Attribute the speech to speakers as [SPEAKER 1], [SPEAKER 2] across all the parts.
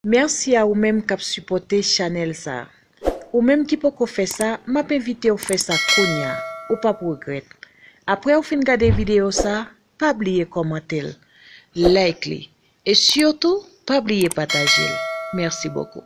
[SPEAKER 1] Merci a ou menm kap sipòte chanèl sa. Ou menm ki poko fè sa map envitew fè sa kounya ou pap regrèt. Aprèw fin gade video sa pa bliye kòmantel, like li e surtout pa bliye patajel. Merci beaucoup.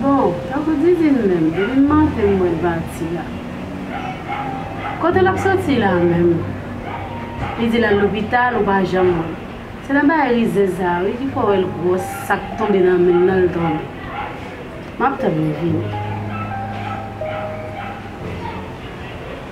[SPEAKER 2] Bon, tankou Didine menm, Didine Martin m wè l pati la. Kote l ap soti la menm? Li di l al lopital ou pa janm wè l. Se nan bagay rizèz sa a wi ki fè w wè l gwòs sa k tonbe nan men l lan l tonbe. M ap tann li vini.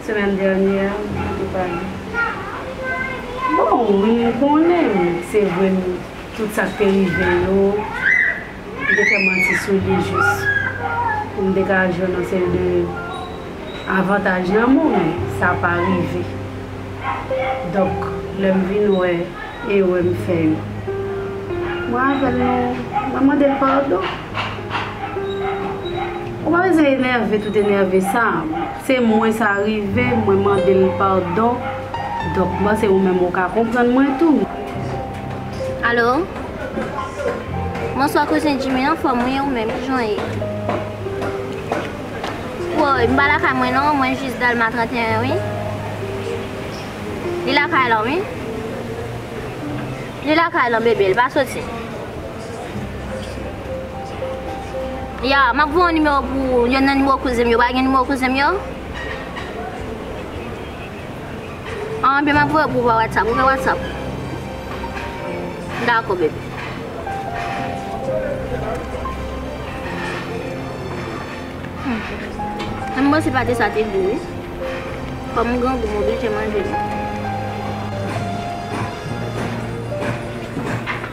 [SPEAKER 2] Semaine dernière mwen te pale. Bon wi m konnen se vre m tout sa k te rive yo m te fè manti sou li jis pou m te ka jwenn yon seri de avantaj nan men w men sa pa rive donk lè m vin wè erè m fè yo mwen avè l nou mwen mande l padon. Ou pa bezwen enève tout enève sa se mwen sa rive mwen mandel padon donk mwen se ou menm ou ka konprann mwen tou.
[SPEAKER 3] Alo Bonswa kouzen Jimmy anfòm ou ye ou menm kijan w ye Woy m pa lakay mwen non mwen jis Dèlma 31 wi Li lakay lan wi Li lakay lan bebe l pa soti. Ya, map voye yon nimewo pou ou, yon nan nimewo kouzen m yo, ou pa gen nimewo kouzen m yo? An, ebyen map voye pou ou pa whatsapp, ou gen whatsapp? Dako bebe. An mwen se pate sa te gou wi. Kom m gen gou m oblije manje li.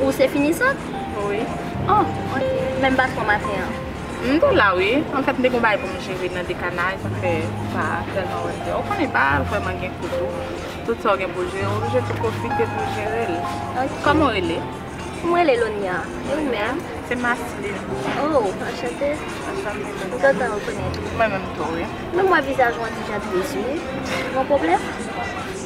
[SPEAKER 3] Ou se finisant? Wi.
[SPEAKER 4] Oh, ok.
[SPEAKER 3] Men m pa twò maten an. M te la
[SPEAKER 4] wi. An fèt m te gen yon bagay pou m jere nan dekanay sa fè m pa tèlman wè klè. Ou konnen pa vrèman gen kou tou. Tout sa w gen pou w jere ou oblije tou pwofite pou w jere l. Ok. Kòman w rele? M rele
[SPEAKER 3] Lonia. E ou
[SPEAKER 4] menm?
[SPEAKER 3] Se
[SPEAKER 4] Masseline.
[SPEAKER 3] Oh, anchante.
[SPEAKER 4] Anchante.
[SPEAKER 3] M kontan rekonèt ou. Mwen menm tou wi.
[SPEAKER 4] Men m wè vizaj ou an ti
[SPEAKER 3] jan tris wi. Gen yon pwoblèm?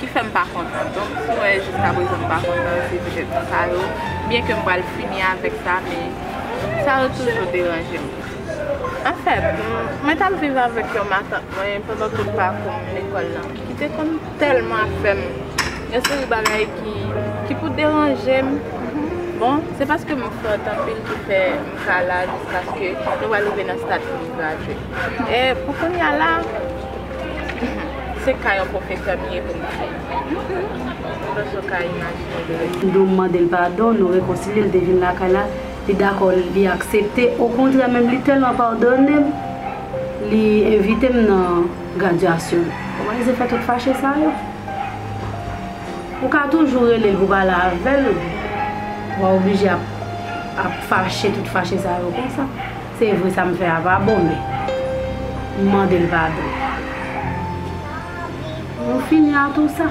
[SPEAKER 4] ki fè m pa kontan. Donk, si m wè jiska prezan m pa kontan, se petèt pou sa yo. Byen ke m pral fini avèk sa, men sa yo toujou deranje m. Anfèt, mwen t ap viv avèk yon matant mwen pandan tout pakou m lekòl la, ki te konn tèlman fè m yon seri bagay ki pou deranje m. Bon, se paske m fòt anpil ki fè m ka la jiskaske nou va rive nan stad pou m gradye. E pou kounya la. Se ka yon pwofesè m ye pou m di. M panse w ka imajine de lè. Ndo m mande l padon,
[SPEAKER 2] nou rekonsilye, l te vin lakay la, li dakò, li aksepte, okontrè menm li tèlman padone m, li envite m nan gradyasyon l. Kòman li se fè tout fache sa yo? Ou ka toujou rele l pou pale avè l, wa oblije ap fache tout fache sa yo konsa? Se vre sa m fè a pa bon men m mande l padon. Nou fini a tou sa.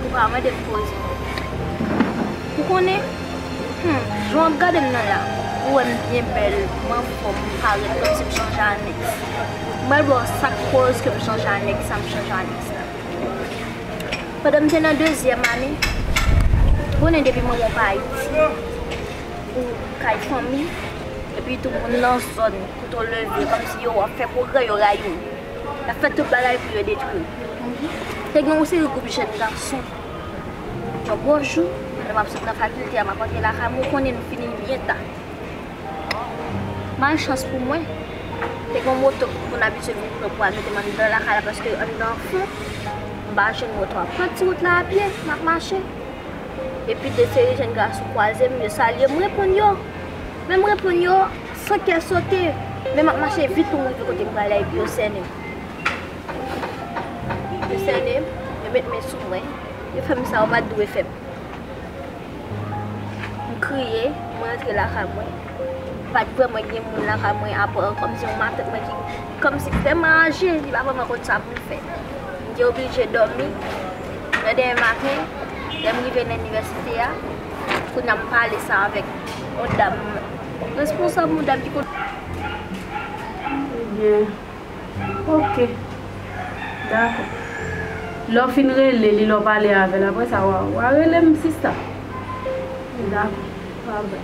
[SPEAKER 2] Ou
[SPEAKER 3] pa mande m koze. Ou konnen, hum, jan w ap gade m nan la, ou wè m byen bèl, m anfòm, m parèt kòmsi m chanje anèks. M pral ba w sa k koz ke m chanje anèks sa m chanje anèks la. Pandan m te nan dezyèm ane, konnen depi manman w pa Ayiti. pou kay fanmi epi tou moun nan zòn kote w leve yo kòmsi yo ap fè pwogrè yo rayi w y ap fè tout bagay pou yo detwi w konprann te gen yon seri gwoup jèn gason yon bon jou pandan m ap sot nan fakilte a m ap antre lakay mwen ou konnen nou fini n byen ta malchans pou mwen te gen yon moto moun abitye vin pran pou al mete m anndan lakay la paske anndan an fon m pa jwenn moto a m pran ti wout la apye m ap mache. Epi de seri jenn gason kwaze m, yo salye m, m reponn yo. Men m reponn yo san kè sote, men m ap mache vit pou m rive kote m prale a epi yo sènen m. Yo sènen m, yo met men sou mwen, yo fè m sa yo pa t dwe fè m. M kriye, m rantre lakay mwen. M pa t kwè mwen gen moun lakay mwen apa kòmsi yon matant mwen ki. Kòmsi vrèman aje li pa vrèman konn sa pou l fè. M te oblije dòmi, lè dèmen maten, lè m rive nan inivèsite a, kounye a m pale sa avèk yon dam responsab, yon dam ki konn.
[SPEAKER 2] Ebyen, oke, dakò. Lè w fin rele li, lè w pale avè l, apresa wa rele m sista. Dakò, pa vre.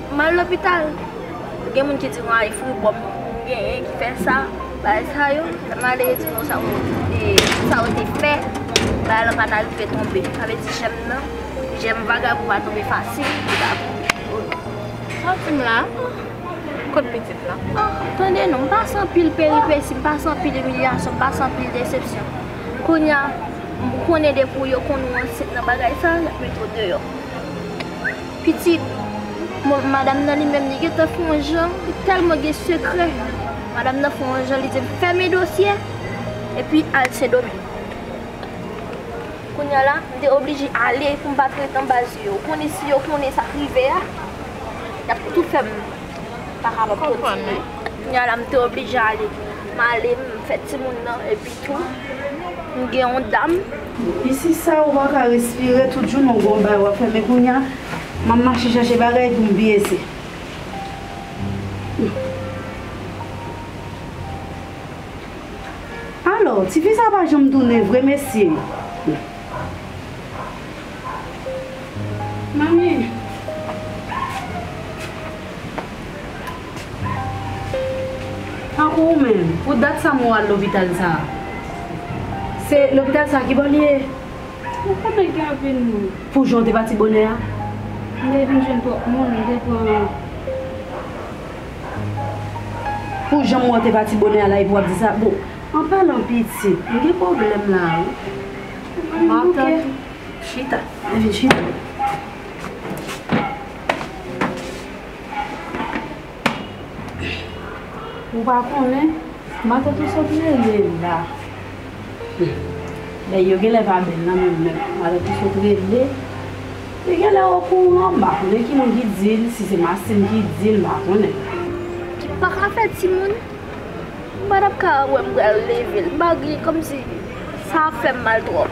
[SPEAKER 3] M al lopital, gen moun ki di m a e fribwòm m genyen ki fè sa, bagay sa yo. Lè m ale yo di m non sa yo te, sa yo te pè, bagay lan pa ta rive tonbe. Sa vle di jèm nan, jèm vagabon pa tonbe fasil, li pa pouse.
[SPEAKER 4] Santi m la, kot pitit lan? Oh, tande non, m pase
[SPEAKER 3] anpil peripesi, m pase anpil imilyasyon, m pase anpil desepsyon. Kounye a, m konnen depi yo konn ou ansent nan bagay sa, y ap mete w deyò. Pitit madam nan li menm li gentan fè yon jan, li tèlman gen sekrè, madam nan fè yon jan li di l fèmen dosye epi al Sendomeng. Kounya la, m te oblije ale pou m pa t ret anba zye yo. Ou konnen si yo konnen sa k rive a, y ap tou fè m pa kapab kontinye. Kounya la m te oblije ale. M ale, m fè timoun nan epitou m gen yon dam. Isi sa
[SPEAKER 2] ou paka respire tout jounen ou gon bagay wap fè men kounya map mache chache bagay poum peze. Alò tifi sa pa janm tounen vre mesye. Manmi. Tankou ou menm, pou dat sa mwen al lopital sa a? Se lopital sa a ki bò li ye? Ou konnen
[SPEAKER 5] gen anpil moun. Pou jan w te pati bonè
[SPEAKER 2] a? M te vin
[SPEAKER 5] jwenn twòp moun, m te pran.
[SPEAKER 2] Pou jan m wè w te pati bonè a la epi w ap di sa? Bon, an palan pitit, m gen pwoblèm la a wi. M
[SPEAKER 5] ap tann ou.
[SPEAKER 2] Chita. Vin chita. Ou pa konnen? Mata tou sot rele la. Nèg yo genlè pa bèl nan menm lè mata tou sot rele. Li genlè okouran, m pa konnen ki moun ki di l, si se Mastin ki di l, m pa konnen. Ki pa ka fè
[SPEAKER 3] timoun? M pa t ap ka wè m pral leve l. M pa gen, kòmsi sa ap fè m mal twòp.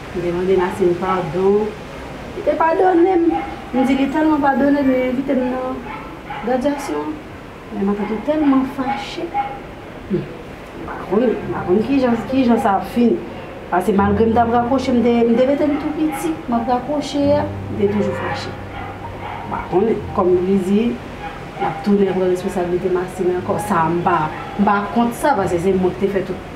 [SPEAKER 2] M te mande Nassim padon. Li te padone m. M di li tèlman padone l li envite m nan gradyasyon an. Men matant ou tèlman fache. Hum! M pa konn, m pa konn kijan sa ap fini. Pase malgre m t ap rakwoche, m te rete m tou piti, m ap rakwoche a, m te toujou fache. M pa konnen. Kòm li di, l ap tounen pran responsablite Massim ankò. Sa a m pa kont sa pase se mwen ki te fè tout.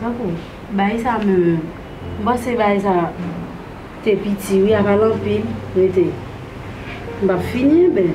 [SPEAKER 2] Tankou bay sa menm, m panse bay sa te piti wi, a pa l anpil, rete. M pa p fini anben.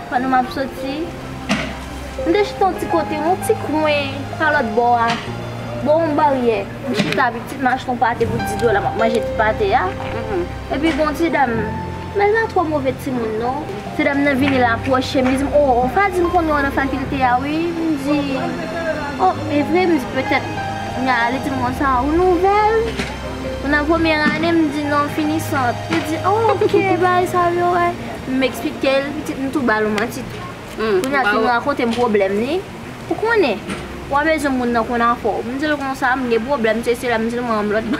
[SPEAKER 3] Pandan m ap soti, m te chita yon ti kote, yon ti kwen pa lòt bò a, bò yon baryè. M chita epi pitit m achte yon pate pou 10 dola, m ap manje ti pate a. Epi gen yon ti dam, men l pa twò move timoun non. Ti dam nan vini l apwoche m, li di m, 'O, w pa di m konnen w nan fakilte a wi? M di, 'O, e vre? M di, 'Petèt m a. Li di m konsa, 'Ou nouvèl? Ou nan premyè ane? M di, 'Non, finisant. Li di, 'O, ke bagay sa yo e? M eksplike l pitit m tou ba l yon manti tou. Kounya ki m rakonte m pwoblèm li, ou konnen, w a bezwen moun nan konn afè w. M di l konsa, m gen pwoblèm sesi la, m di l mwen an m lòt bò.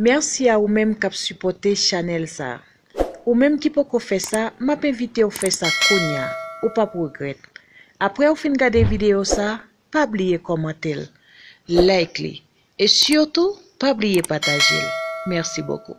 [SPEAKER 1] Merci a ou menm kap supote chanel sa. Ou menm ki poko fè sa, m ap envite w fè sa kounya. Ou p ap regrèt. Aprè ou fin gade videyo sa, pa bliye kòmante l, like li, e sitou pa bliye pataje l. Mèsi bokou.